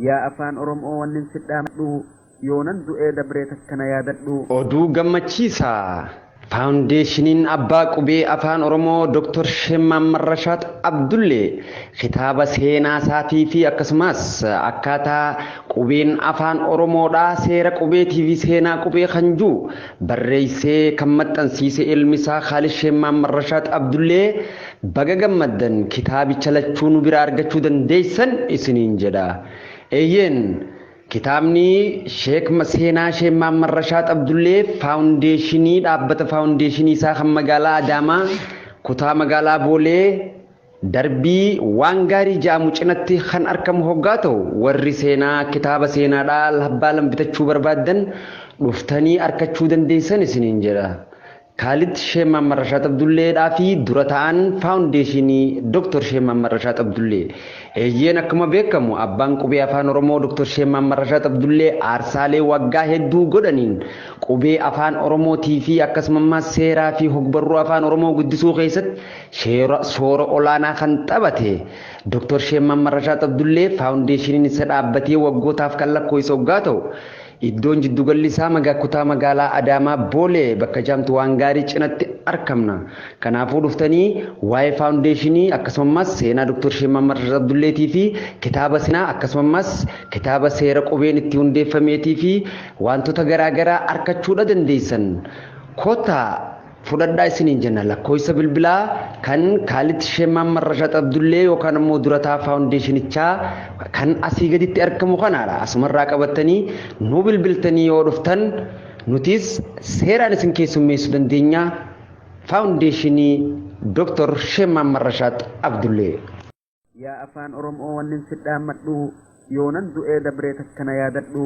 Yaa afaan orom'oo wannin sidhaamadhu yoonan du'ee dabree takka na yaadadhu. Oduu gammachiisaa! Faawundeeshiniin Abbaa Qubee Afaan Oromoo Doktar Sheeh Mahammad Rashaad Abdullee kitaaba seenaasaatii fi akkasumas akkaataa qubeen Afaan Oromoodhaa seera qubeetii fi seenaa qubee kan jiru barreessee kan maxxansiise ilmisaa Khaalid Sheeh Mahammad Rashaad Abdullee Baga gammaddan kitaabicha lachuu nu biraa argachuu dandeessan isiniin jedha. Eeyyeen kitaabni Sheek Seenaa Sheek Mahammad Rashaad Abdullee faawundeeshinii dhaabbata faawundeeshinii isaa kan magaalaa Adaamaa kutaa magaalaa Boolee darbii waan gaarii ja'amu cinatti kan arkamu hoggaa ta'u warri seenaa kitaaba seenaadhaa labbaa lambitachuu barbaaddan dhuftanii arkachuu dandeessan isiniin jedha. Kaalid Sheeh Mahammad Rashaad Abdullee dhaa fi dura taa'aan Faawundeeshiinii Dr. Sheeh Mahammad Rashaad Abdullee. Eeyyeen akkuma beekamu abbaan qubee Afaan Oromoo Dr. Sheeh Mahammad Rashaad Abdullee aarsaalee waggaa hedduu godhaniin qubee Afaan Oromootii fi akkasumammaas seeraa fi hogbarruu Afaan Oromoo guddisuu keessatti sheera soora olaanaa kan taphate Dr. Sheeh Mahammad Rashaad Abdullee Faawundeeshiiniin isa dhaabbatee waggootaaf kan lakkooyse oggaa ta'u Iddoon jiddugalli isaa maga kutaa magaalaa Adaamaa Boolee bakka jaamtu waan gaarii cinatti arkamna. Kanaafuu dhuftanii waa'ee faawundeeshinii akkasumammaas seenaa Dr. Sheek Mahammad Rashid Abdulleetii fi kitaaba seenaa akkasumammaas kitaaba seera qubeen itti hundeeffameetii fi waantota garaa garaa arkachuudha dandeessan. Kottaa! fudhadhaa isiniin jenna lakkooysa bilbilaa kan kaalit shee maamman rashat abdullee yookaan ammoo durataa faawundeeshinichaa kan asii gaditti argamu kanaadha asumarraa qabattanii nu bilbiltanii yoo dhuftan nutis seeraan isin keessummeessu dandeenya faawundeeshinii dooktor shee maamman rashat abdullee. Yaa afaan Oromoo wannin sidhaammadhu yoonan du'ee dabree takkana yaadadhu.